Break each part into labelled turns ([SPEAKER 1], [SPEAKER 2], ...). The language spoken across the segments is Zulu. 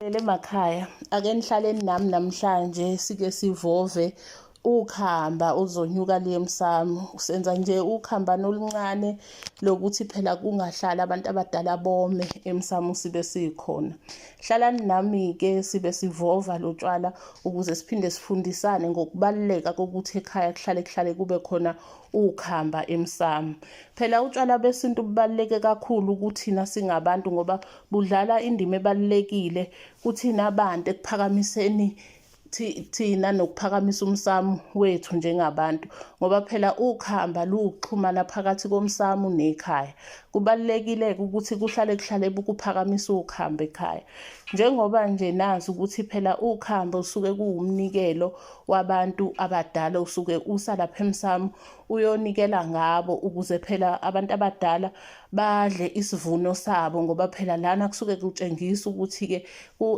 [SPEAKER 1] Lele makhaya ake nihlaleni nami namhlanje sike sivove ukhamba uzonyuka liyemsamo usenza nje ukhambana oluncane lokuthi phela kungahlala abantu abadala bome emsamo sibe sikhona hlalani nami ke sibe sivova lotshwala ukuze siphinde sifundisane ngokubaluleka kokuthi ekhaya kuhlale kuhlale kube khona ukhamba emsamo phela utshwala besintu bubaluleke kakhulu kuthina singabantu ngoba budlala indima ebalulekile kuthina abantu ekuphakamiseni thina nokuphakamisa umsamu wethu njengabantu ngoba phela ukhamba luwukuxhumana phakathi komsamu nekhaya kubalulekile ukuthi kuhlale kuhlale bukuphakamisa ukhamba ekhaya njengoba nje nazi ukuthi phela ukhamba usuke kuwumnikelo wabantu abadala usuke usa lapha emsamu uyonikela ngabo ukuze phela abantu abadala badle isivuno sabo ngoba phela lana kusuke kutshengisa ukuthi-ke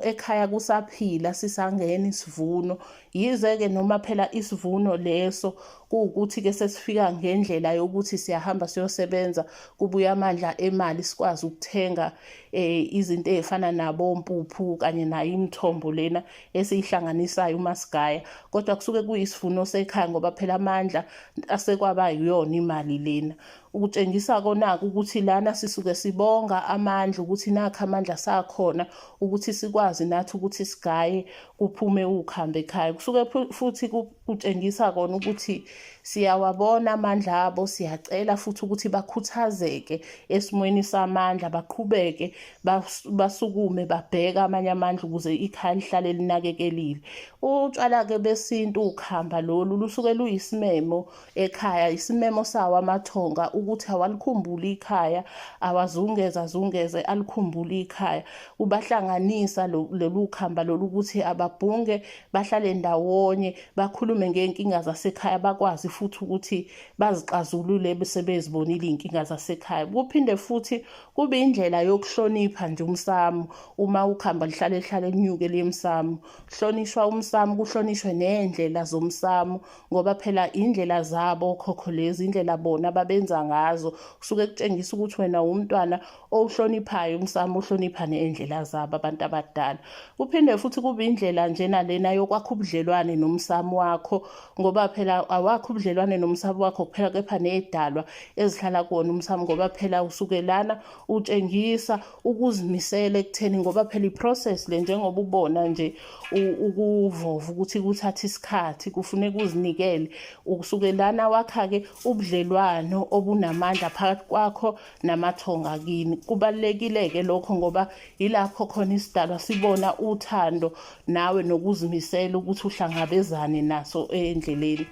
[SPEAKER 1] ekhaya kusaphila sisangena isivuno yize-ke noma phela isivuno leso kuwukuthi-ke sesifika ngendlela yokuthi siyahamba siyosebenza kubuya amandla emali sikwazi ukuthenga um izinto ey'fana nabompuphu kanye nayo imithombo lena esiyihlanganisayo uma sigaya kodwa kusuke kuyisivuno sekhaya ngoba phela amandla asekwaba yiyona imali lena ukutshengisa konaka ukuthi lana sisuke sibonga amandla ukuthi nakho amandla sakhona ukuthi sikwazi nathi ukuthi sigaye kuphume ukhambe ekhaya kusuke futhi kutshengisa kona ukuthi siyawabona amandla abo siyacela futhi ukuthi bakhuthazeke esimweni samandla baqhubeke basukume babheke amanye amandla ukuze ikhaya lihlale linakekelile utshwala-ke besintu ukhamba lolu lusuke luyisimemo ekhaya isimemo sawo amathonga ukuthi awalikhumbuli ikhaya awazungeze azungeze alikhumbuli ikhaya ubahlanganisa lolu khamba lolu ukuthi ababhunge bahlale ndawonye bakhulume ngey'nkinga zasekhaya bakwazi futhi ukuthi bazixazulule sebezibonile iy'nkinga zasekhaya kuphinde futhi kube indlela yokuhlonipha nje umsamo uma ukhamba lihlale lihlale kunyuke liye emsamo kuhlonishwa umsamo kuhlonishwe ney'ndlela zomsamo ngoba phela indlela zabo okhokho lezi indlela bona babenza ngazo kusuke kutshengisa ukuthi wena wumntwana owuhloniphayo umsamo uhlonipha neendlela zabo abantu abadala uphinde futhi kube indlela njena lena yokwakha ubudlelwane nomsamo wakho ngoba phela awakho ubudlelwane nomsamo wakho kuphela kepha nedalwa ezihlala kuwona umsamo ngoba phela usuke lana utshengisa ukuzimisela ekutheni ngoba phela i-process le njengoba ubona nje ukuvova ukuthi kuthatha isikhathi kufuneka uzinikele ukusuke lana wakha-ke ubudlelwano obunamandla phakathi kwakho namathonga kini kubalulekile-ke lokho ngoba yilapho khona isidalwa sibona uthando nawe nokuzimisela ukuthi uhlangabezane naso endleleni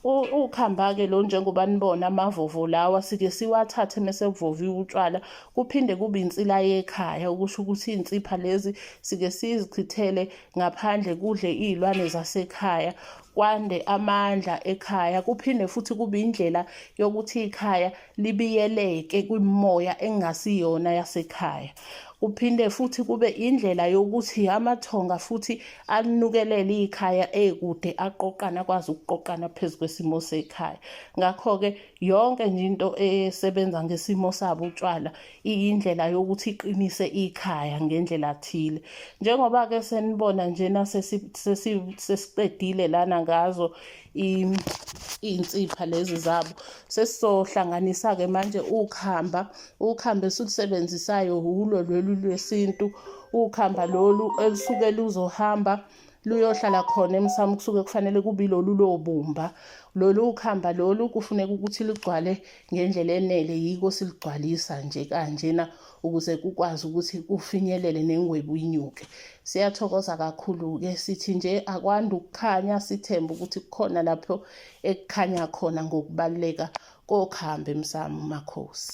[SPEAKER 1] Ukhamba-ke lo njengoba nibona amavovo lawa sike siwathathe mese kuvoviwe utshwala kuphinde kube insila yekhaya okusho ukuthi iy'nsipha lezi sike sizichithele ngaphandle kudle iy'lwane zasekhaya kwande amandla ekhaya kuphinde futhi kube indlela yokuthi ikhaya libiyeleke kwimoya engasiyona yasekhaya. Kuphinde futhi kube indlela yokuthi amathonga futhi anukelele ikhaya ekude aqoqana akwazi ukuqoqana phezu kwesimo sekhaya. Ngakho-ke yonke nje into esebenza ngesimo sabo utshwala iyindlela yokuthi iqinise ikhaya ngendlela thile. Njengoba-ke senibona njena sesiqedile lana ngazo iy'nsipha lezi zabo sesizohlanganisa-ke manje ukhamba ukhamba esulisebenzisayo wulo lolu lwesintu ukhamba lolu elusuke luzohamba luyohlala khona emsamo kusuke kufanele kube lolu lobumba lolu ukhamba lolu kufuneka ukuthi lugcwale ngendlela enele yiko siligcwalisa nje kanjena ukuze kukwazi ukuthi kufinyelele nengwebu inyuke siyathokoza kakhulu-ke sithi nje akwanda ukukhanya sithembe ukuthi kukhona lapho ekukhanya khona ngokubaluleka kokuhamba emsamo makhosi